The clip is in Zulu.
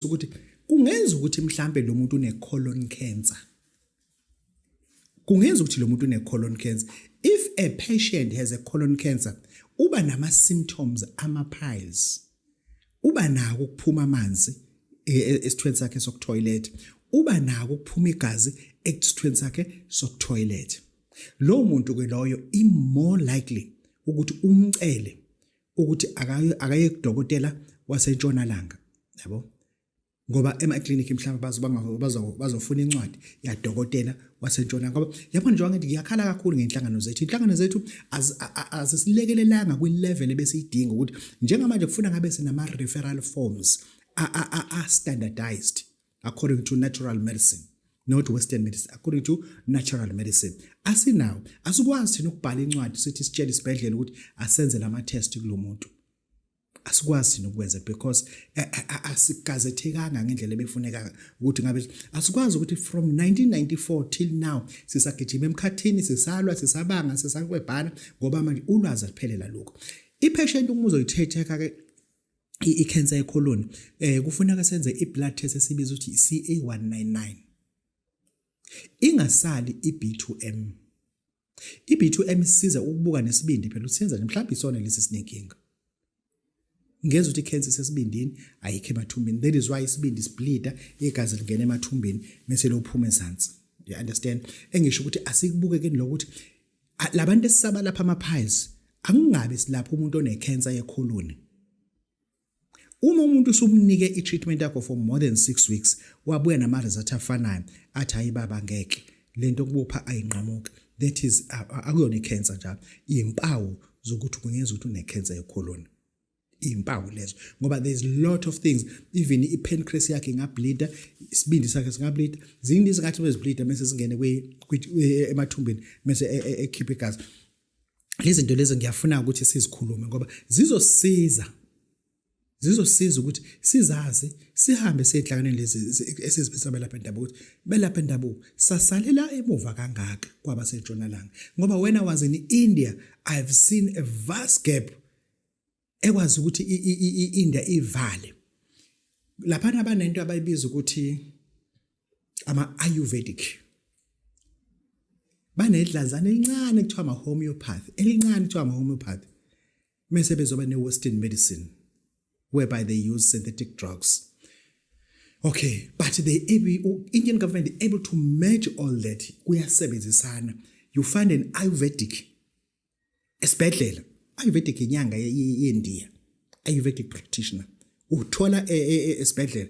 ukuthi kungenza ukuthi mhlambe lo muntu une colon cancer kungenza ukuthi lo muntu une colon cancer if a patient has a colon cancer uba nama symptoms ama piles uba nako ukuphuma amanzi e, e, esithweni sakhe sokutoilet uba nako ukuphuma igazi esithweni sakhe sokutoilet lo muntu ke loyo i more likely ukuthi umcele ukuthi akaye kudokotela wasentshonalanga yabo ngoba emaklinikhi mhlawumbe bazofuna incwadi yadokotela wasentshona ngoba yabona njengoba ngithi ngiyakhala kakhulu ngey'nhlangano zethu iy'nhlangano zethu azisilekelelanga kwi-level ebesiyidinga ukuthi njengamanje kufuna ngabe sinama-referral forms a-standardized according to natural medicine not western medicine according to natural medicine asinawo asikwazi thina ukubhala incwadi sithi sitshele isibhedlela ukuthi asenze lama test kulomuntu asikwazi thina ukwenza because eh, eh, eh, asigazethekanga ngendlela ebefuneka ukuthi ngabe asikwazi ukuthi from 1994 till now sisagijima emkhathini sisalwa sisabanga sisakwebhana ngoba manje ulwazi aliphelela lokho ipheshenti uma uzoyithetha ke i-cancer yecolon eh kufuneka senze i-blood test esibiza ukuthi i-CA199 ingasali i-B2M i-B2M isiza ukubuka nesibindi phela usenza mhlawumbe isona lesi sinenkinga ngeza ukuthi i-cancer isesibindini ayikho emathumbini that is why isibindi sibleeda igazi lingena emathumbini mese lophuma ezansi you understand engisho ukuthi asikubukekeni lokuthi labantu esisaba lapha ama piles akungabe silapha umuntu one cancer yekhuluni Uma umuntu usumnike i-treatment yakho for more than 6 weeks wabuya nama result afanayo athi hayi baba ngeke lento kubopha ayinqamuki that is akuyona i-cancer njalo impawu zokuthi kungenzeka ukuthi une-cancer yecolon impawu lezo ngoba there's lot of things even ipancreas yakhe ingableeda isibindi sakhe singableeda ziningi izinkathi bezibleeda bese singene emathumbeni bese e, e, ekhiphe igazi lezi zinto lezi ngiyafuna ukuthi sizikhulume ngoba zizosiza zizosiza ukuthi sizazi sihambe siyehlanganeni lezi esizibisa belapha endabuko ukuthi belapha endabuko sasalela emuva kangaka kwabasentshonalanga ngoba wena was in India i've seen a vast gap ekwazi ukuthi inda ivale lapha nabanento abayibiza ukuthi ama ayurvedic banedlanzana elincane kuthiwa ama homeopath elincane kuthiwa ama homeopath mese bezoba ne western medicine whereby they use synthetic drugs okay but they able indian government they able to merge all that kuyasebenzisana you find an ayurvedic esibhedlela ayurvedic inyanga yendiya ayurvedic practitioner uthola e, e, e, esibhedlela